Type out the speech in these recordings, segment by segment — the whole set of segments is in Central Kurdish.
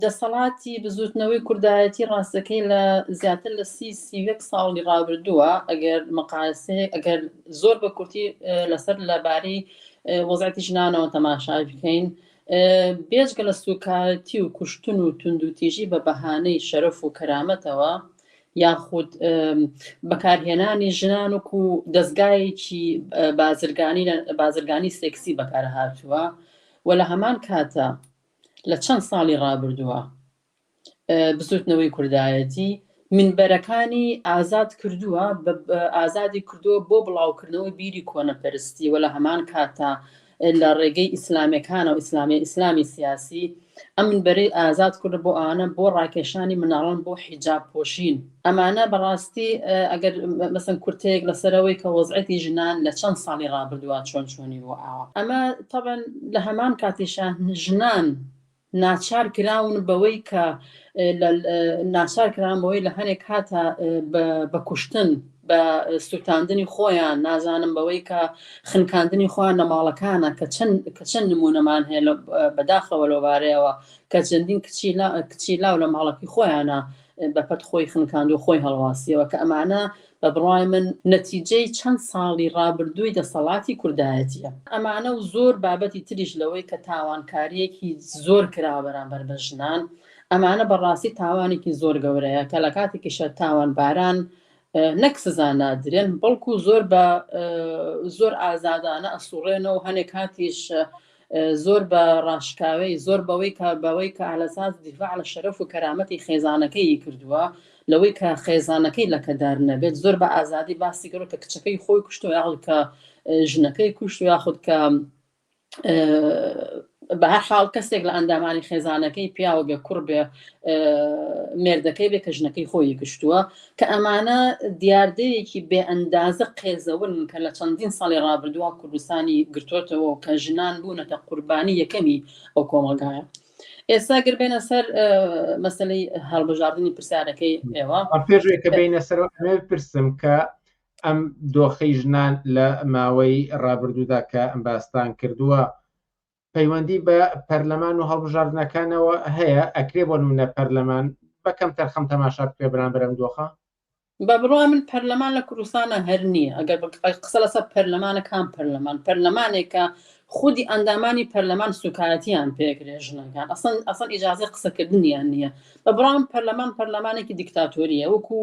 دەسەڵاتی بزووتنەوەی کوردایەتی ڕاستەکەی لە زیاتر لە سی سی یەک ساڵی ڕابردووە ئەگەر مقایسەیەک ئەگەر زۆر بە کورتی لەسەر لەبارەی وەزعەتی ژنانەوە تەماشای بکەین بێجگە لە سوکایەتی و کوشتن و توندوتیژی بە بەهانەی شەرف و کەرامەتەوە یاخود بەکارهێنانی ژنان وکو دەستگایەکی بازرگانی بازرگانی سێکسی بەکارهاتووە و لە هەمان کاتە لە چەند ساڵی ڕابردووە بزوتنەوەی کوردایەتی مینبەرەکانی ئازاد کردووە ئازادی کردووە بۆ بڵاوکردنەوەی بیری کۆنەپەرستی وە لە هەمان کاتە لە ڕێگەی ئیسلامەکانە و ئیسلامی ئیسلامی سیاسی ئەم بەرەی ئازاد کورد بۆ ئانە بۆ ڕاکێشانی مناڵان بۆ حیجاب پۆشین ئەمانە بەڕاستی ئەگەر مەسەن کورتەیەک لەسەرەوەی کە وەزعەتی ژنان لە چەند ساڵی ڕابردووە چۆن چۆنی بووە ئاوا ئەمە تەبەن لە هەمان کاتیشا ژنان ناچار کراون بەوەی کە ناچار کران بەوەی لە هەنێک کاتە بە کوشتن بە سووتاندنی خۆیان نازانم بەوەی کە خنکاندنی خۆیان لە ماڵەکانە کە چەند کە چەند نمونەمان هەیە بەداخەوە لەوبارەیەوە کە چەندین کچی کچی لاو لە ماڵەکەی خۆیانە بەپەت خۆی خنکاندو خۆی هەڵواسیەوە کە ئەمانە بە بڕوای من نەتیجەی چەند ساڵی ڕابردووی دەسەڵاتی کوردایەتیە ئەمانە و زۆر بابەتی تریش لەوەی کە تاوانکاریەکی زۆر کراوە بەرامبەر بە ژنان ئەمانە بەڕاستی تاوانێکی زۆر گەورەیە کە لە کاتێکیشە تاوانباران نەک سزا نادرێن بەڵکو زۆر بە زۆر ئازادانە ئەسوڕێنەوە هەنێک کاتیش زۆر بە ڕاشکاوێی زۆر بەوەی کە بەوەی کە ئالەساس دیفاع لە شەرەف و کەرامەتی خێزانەکەیی کردووە لەوەی کە خێزانەکەی لەکەدار نەبێت زۆر بە ئازادی باسی گەڕ کە کچەکەی خۆی کوشتەوە یاخود کە ژنەکەی کوشت و یاخود کە بە هەر حاڵ کەسێک لە ئەندامانی خێزانەکەی پیاوە بێ کوڕ بێ مێردەکەی بێ کە ژنەکەی خۆی گشتووە کە ئەمانە دیاردەیەکی بێ ئەندازە قێزەونن کە لە چەندین ساڵی ڕابردووە کوردستانی گرتۆتەوە و کە ژنان بوونەتە قوربانی یەکەمی ئەو کۆمەڵگایە. ئێستا گەر بێنە سەر مەسلەی هەڵبژاردنی پرسیارەکەی ئێوە پێشێک کە بینە سەر ئەمێ پرسم کە ئەم دۆخی ژنان لە ماوەی ڕابردوودا کە ئەم باستان کردووە پەیوەندی بە پەرلەمان و هەڵبژاردنەکانەوە هەیە ئەکرێ بۆ نمونە پەرلەمان بەکەم تەرخەم تەماشا بکرێ بران برم دۆخە بە بڕوا من پەرلەمان لە کوردستانە هەر نییە ئەگەر قسە لەسە پەرلەمانە کام پەرلەمان پەرلەمانێکە خودی ئەندامانی پەرلەمان سوکایەتیان پێکرێ ژنەکان ئەسن ئەسن ئیجاازی قسەکردنیان نییە بە بڕام پەرلەمان پەرلەمانێکی دیکتاتۆریە وەکو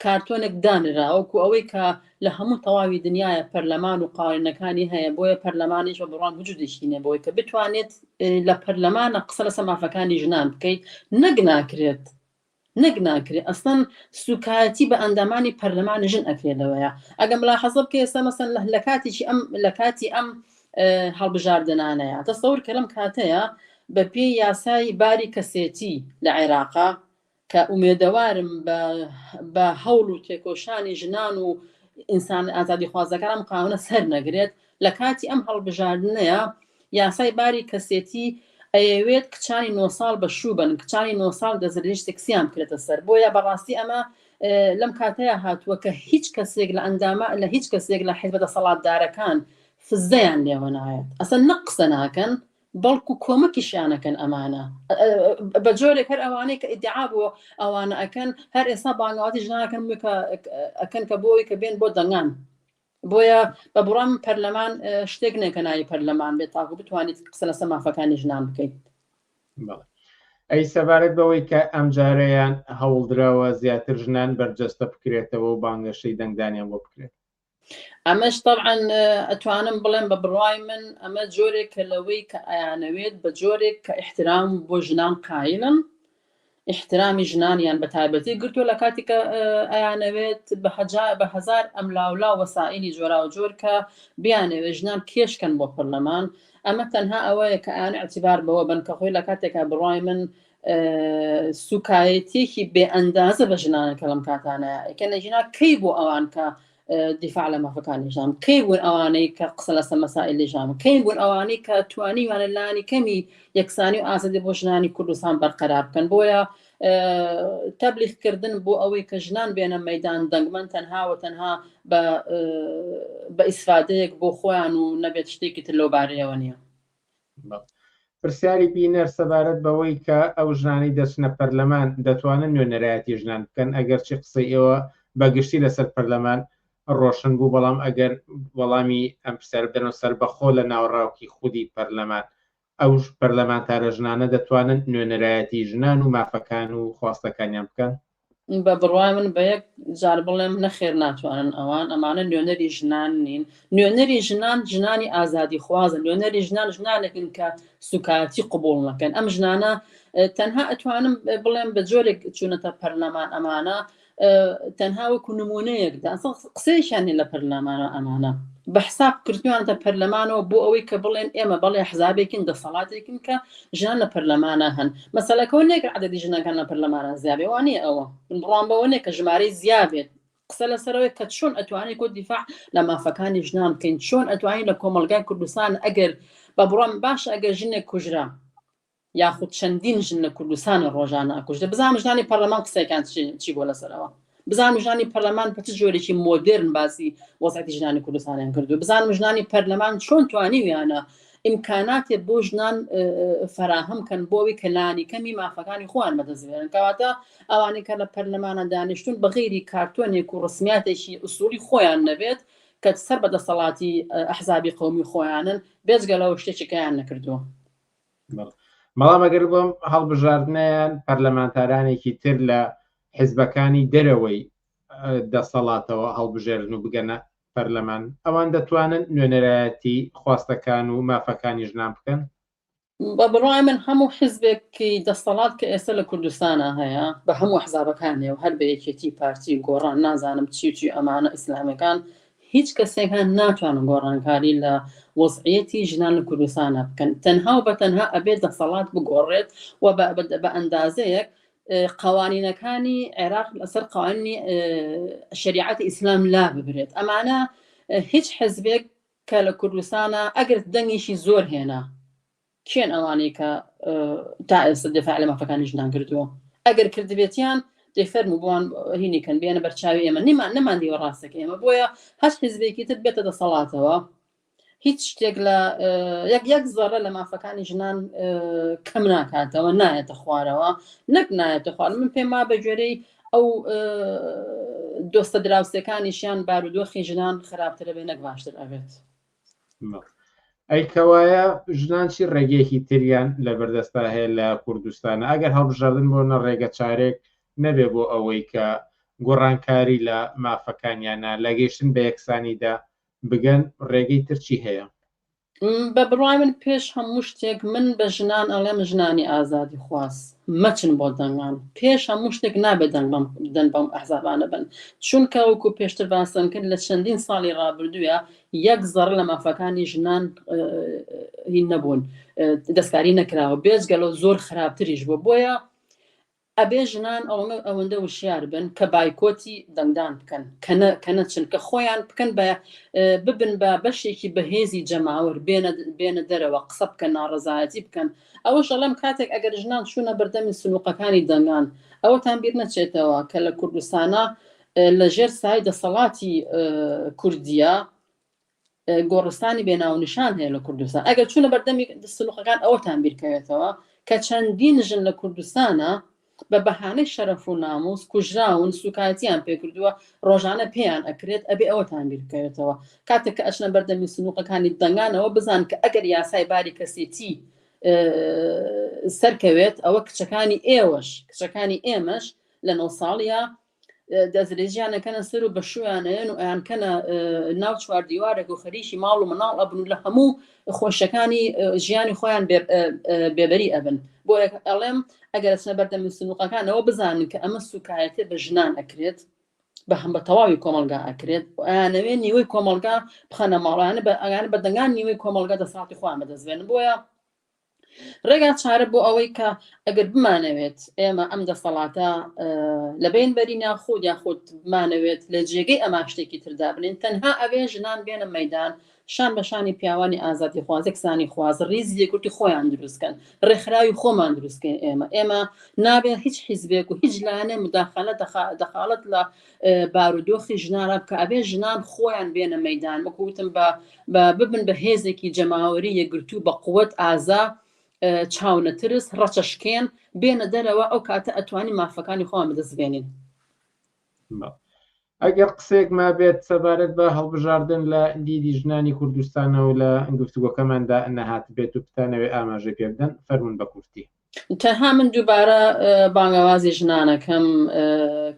کارتۆنێک دانراوەکو ئەوەی کە لە هەموو تەواوی دنیایە پەرلەمان و قاوەینەکانی هەیە بۆیە پەرلەمانیش بە بڕوام وجودێکی نیە بۆی کە بتوانێت لە پەرلەمانە قسە لەسە مافەکانی ژنان بکەیت نەک ناکرێت نەک ناکرێت ئەسن سوکایەتی بە ئەندامانی پەرلەمانی ژن ئەکرێت لەوەیە ئەگەم لا حەزب کە ئێستا مەسەن لە کاتێکی ئەم لە کاتی ئەم هەڵبژاردنانەیە تەسەور کە لەم کاتەیە بە پێی یاسای باری کەسێتی لە عێراقا کە ئومێدەوارم بە بە هەوڵ و تێکۆشانی ژنان و ئینسان ئازادیخوازەکان ئەم قانونە سەر نەگرێت لە کاتی ئەم هەڵبژاردنەیە یاسای باری کەسێتی ئەیەوێت کچانی نۆ ساڵ بە شوو بن کچانی نۆ ساڵ دەزرێژ سکسیان بکرێتە سەر بۆیە بەڕاستی ئەمە لەم کاتەیە هاتووە کە هیچ کەسێک لە ئەندامە لە هیچ کەسێک لە حزبە دەسەڵاتدارەکان فزەیان لێوە نایەت ئەسە نەقسە ناکەن بەڵکو کۆمەکیشیان ئەکەن ئەمانە بە جۆرێک هەر ئەوانەی کە ئیدعا بۆ ئەوانە ئەکەن هەر ئێستا بانگاتی ژنانەکەن ئەکەن کە بۆی کە بێن بۆ دەنگان بۆیە بە بڕام پەرلەمان شتێک نێکە ناوی پەرلەمان بێت تاکو بتوانیت قسە لەسە مافەکانی ژنان بکەیت ئەی سەبارەت بەوەی کە ئەم جارەیان هەوڵدراوە زیاتر ژنان بەرجەستە بکرێتەوە و بانگەشەی دەنگدانیان بۆ بکرێت ئەمەش تەبعەن ئەتوانم بڵێم بە بڕوای من ئەمە جۆرێکە لەوەی کە ئەیانەوێت بە جۆرێک کە ئیحترام بۆ ژنان قایلن ئیحترامی ژنانیان بە تایبەتی گرتووە لە کاتی کە ئەیانەوێت بە هەزار ئەملاولا وەسائلی جۆرا و جۆر کە بیانەوێت ژنان کێشکەن بۆ پەرلەمان ئەمە تەنها ئەوەیە کە ئەیان ئەتیبار بەوە بن کە خۆی لە کاتێکا بڕای من سوکایەتیەکی بێ ئەندازە بە ژنانەکە لەم کاتانەیە ئەکە نەژینا کەی بۆ ئەوان کە دیفاع لە مافەکانی ژام کەی بوون ئەوانەی کە قسە لەسە مەسائل لە ژام کەی بوون ئەوانەی کە توانیوانە لانی کەمی یەکسانی و ئازادی بۆ ژنانی کوردستان بەرقەرار بکەن بۆیە تەبلیغکردن بۆ ئەوەی کە ژنان بێنە مەدان دەنگمەن تەنها و تەنها بە ئیسفادەیەک بۆ خۆیان و نەبێت شتێکی تر لەو بارەیەوە نییە پرسیاری بینەر سەبارەت بەوەی کە ئەو ژنانەی دەچنە پەرلەمان دەتوانن نوێنەرایەتی ژنان بکەن ئەگەرچی قسەی ئێوە بەگشتی لەسەر پەرلەمان ڕۆشن بوو بەڵام ئەگەر وەڵامی ئەم پرسیار بدەن و سربەخۆ لە ناوەڕاوکی خودی پەرلەمان ئەو پەرلەمانتارە ژنانە دەتوانن نوێنەرایەتی ژنان و مافەکان و خواستەکانیان بکەن بە بڕوای من بە یەک جار بڵێم نەخێر ناتوانن ئەوان ئەمانە نوێنەری ژنان نین نوێنەری ژنان ژنانی ئازادی خوازن نوێنەری ژنان ژنانێکن کە سوکایەتی قوبوڵ نەکەن ئەم ژنانە تەنها ئەتوانم بڵێم بە جۆرێک چوونەتە پەرلەمان ئەمانە تەنها وەکو نمونەیەکدا قسەیشیان لە پەرلەمانە ئەمانە بە حساب کردوانتە پەرلەمانەوە بۆ ئەوەی کە بڵێن ئێمە بەڵێ حزابێکین دەسەڵاتێکین کە ژنان لە پەرلەمانا هەن مەسەلەکەەوە نیە کە عدەدی ژنەکان لە پەرلەمانە زیابێ وانە ئەوە بڕوان بەوە نیە کە ژمارەی زیابێت قسە لەسەرەوەی کە چۆن ئەتوانانی کۆ دیفاع لە مافەکانی ژنان بکەین چۆن ئەتوانین لە کۆمەلگای کوردستان ئەگەر بە بڕام باش ئەگەر ژنێک کوژرا یاخود چەندین ژن لە کوردستانە ڕۆژانە ئەکوژدە بزانام ژنانی پەرلەمان قسەکان چی بۆ لەسەرەوە بزانم ژنانی پەرلەمان بە چ جۆرێکی مۆدرن باسی وەزعەتی ژنانی کوردستانیان کردو بزانم ژنانی پەرلەمان چۆن توانیویانە ئیمکاناتێ بۆ ژنان فراهەم کەن بۆەوەی کەلانی کەمی مافەکانی خۆیان بەدەستێنن کەواتە ئەوانەی کە لە پەرلەمانە دانیشتون بەغیری کارتۆنێک و ڕسمیاتێکی ئوسولی خۆیان نەبێت کە سەر بە دەسەڵاتی ئەحزابی قومی خۆیانن بێزگە لەەوە شتێکیکەیان نەکردووە مەڵام ئەگەر بۆم هەڵبژاردنیان پەرلەمانتارانێکی تر لە حزبەکانی دەرەوەی دەسەڵاتەوە هەڵبژێرن و بگەنە پەرلەمان، ئەوان دەتوانن نوێنەرایەتی خواستەکان و مافەکانی ژنان بکەن؟ بە بڕوای من هەموو حزبێکی دەسەڵات کە ئێستا لە کوردستانا هەیە بە هەموو ئەحزابەکانێ و هەر بە یەکێتی پارتی و گۆڕان نازانم چی و چی ئەمانە ئیسلامیەکان هیچ کەسێکان ناتوانن گۆڕانکاری لە وەزعیەتی ژنان لە کوردستانا بکەن تەنها و بە تەنها ئەبێت دەسەڵات بگۆڕێت و بە ئەندازەیەک قوانینەکانی عێراق لەسەر قوانینی شریعەت ئیسلام لا ببرێت ئەمانە هیچ حزبێک کە لە کوردستانە ئەگەر دەنگیشی زۆر هێنا کێن ئەوانەی کە تا ئێستا دفاع لە مافەکانی ژنان کردووە ئەگەر کردبێتیان دەفەرم و بۆوان هینیکەن بێنە بەرچاوی ئێمە نیمان نەمان دیوە ڕاستەکە ئێمە بۆیە هەست حزبێکی تر بێتە دەسەڵاتەوە هیچ شتێک لە یەک یەک زەڕە لە مافەکانی ژنان کەم ناکاتەوە نایەتە خوارەوە نەک نایەتە خوار من پێم وا بە گوێرەی ئەو دۆستە دراوسەکانیشیان بارودۆخی ژنان خراپترە بێ نەک باشتر ئەبێت ئەی کەوایە ژنان چی ڕێگەیەکی تریان لە بەردەستا هەیە لە کوردستانە ئەگەر هەڵبژاردن بۆ نە ڕێگە چارێک نەبێ بۆ ئەوەی کە گۆڕانکاری لە مافەکانیانە لە گەیشتن بە یەکسانیدا بگەن ڕێگەی تر چی هەیە؟ بە بڕوای من پێش هەموو شتێک من بە ژنان ئەڵێم ژنانی ئازادی خواز مەچن بۆ دەنگان پێش هەموو شتێک نابێت دەنگ بەم دەن بەم ئەحزابانە بن چونکە وەکو پێشتر باسم کرد لە چەندین ساڵی ڕابردووە یەک زەڕ لە مافەکانی ژنان هی نەبوون دەستکاری نەکراوە بێجگەلەوە زۆر خراپتریش بوو بۆیە ئەبێ ژنان ئەوەندە وشیار بن کە بایکۆتی دەنگدان بکەن کە نەچن کە خۆیان بکەن بە ببن بە بەشێکی بەهێزی جەماوەر بێنە دەرەوە قسە بکەن ناڕەزایەتی بکەن ئەوەش ئەڵێم کاتێک ئەگەر ژنان چوونە بەردەمی سنووقەکانی دەنگان ئەوەتان بیر نەچێتەوە کە لە کوردستانە لەژێر سای دەسەڵاتی کوردیە گۆڕستانی بێ ناونیشان هەیە لە کوردستان ئەگەر چونە بەردەمی سلوخەکان ئەوەتان بیرکەوێتەوە کە چەندین ژن لە کوردستانە بە بەهانەی شەرەف و ناموس کوژراون سوکایەتیان پێکردووە ڕۆژانە پێیان ئەکرێت ئەبێ ئەوەتان بیرکەوێتەوە کاتێک کە ئەچنە بەردەمی سنووقەکانی دەنگانەوە بزان کە ئەگەر یاسای باری کەسێتی سەرکەوێت ئەوە کچەکانی ئێوەش کچەکانی ئێمەش لە نۆ ساڵە دەسترێژیانە کەنە سەر و بەشویانەیەن و ئەیان کەنە ناو چوار دیوارێک و خەریکی ماڵ و مناڵ ئەبن و لە هەموو خۆشەکانی ژیانی خۆیان بێبەری ئەبن بۆ ئەڵێم ئەگەر سنە بەردەم سنوقەکانەوە بزانن کە ئەمە سوکایەتێ بە ژنان ئەکرێت بە هەم بە تەواوی کۆمەلگا ئەکرێت ئەیانەوێ نیوەی کۆمەلگا بخەنە ماڵیانە بە ئەگانە بە دەنگان نیوەی کۆمەلگا دەساڵتی خۆیان بەدەستێن بۆیە ڕێگا چارە بۆ ئەوەی کە ئەگەر بمانەوێت ئێمە ئەم دەسەڵاتە لەبین بەری ناخود یاخود بمانەوێت لە جێگەی ئەما شتێکی تردا بنین تەنها ئەوێ ژنان بێنە مەدان شان بە شانی پیاوانی ئازادی خوازێک سانی خوازە ریزی یەکورتی خۆیان دروستکەن ڕێکخراوی خۆمان دروستکەین ئێمە ئێمە نابێت هیچ حیزبێک و هیچ لایەنێ مداخلە دەخالت لە بارودۆخی ژنان ڕەبکە ئەبێ ژنان خۆیان بێنە مەدان وەکو وتم بە ببن بە هێزێکی جەماوەری یەگرتو بە قوت ئازا چاونەترس ڕەچەشکێن بێنە دەرەوە ئەو کاتە ئەتوانی مافەکانی خۆیان بدەستبێنین. ئەگەر قسێک ما بێت سەبارەت بە هەڵبژاردن لە دیدی ژنانی کوردستانەوە لە گفتوگۆکەماندا نەهات بێت و بتانەوێ ئاماژە پێ بدەن فەرمونون بە کورتی. تەنها من دووبارە بانگەوازی ژنانەکەم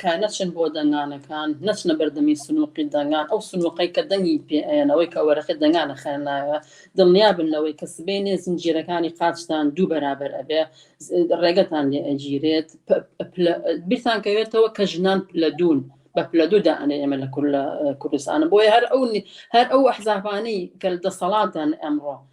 کە نەچن بۆ دەنگانەکان، نەچنە بەردەمی سنووقی دەنگان، ئەو سنووقەی کە دەنگی پێ ئەیەن، ئەوەی کە وەرەقەی دەنگان ئەخەنە ناوێ، دڵنیا بن لەوەی کە سبەینێ زنجیرەکانی قاچتان دوو بەرابەر ئەبێ، ڕێگەتان لێ ئەگیرێت. بیرتان کەوێتەوە کە ژنان پلە دوون، بە پلە دوو دائەنێن ئێمە لە کوردستان، بۆیە هەر ئەو ئەحزابانەی کە دەسەڵاتدان ئەمڕۆ،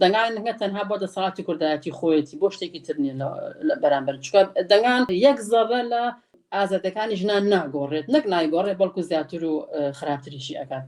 دەنگان نە تەنها بۆ دەسەڵاتی کوردایەتی خۆیەتی بۆ شتێکی تر نیە لە بەرامبەر چکە دەنگان یەک زەڕە لە ئازادەکانی ژنان ناگۆڕێت نەک نایگۆڕێت بەڵکو زیاتر و خراپتریشی ئەکات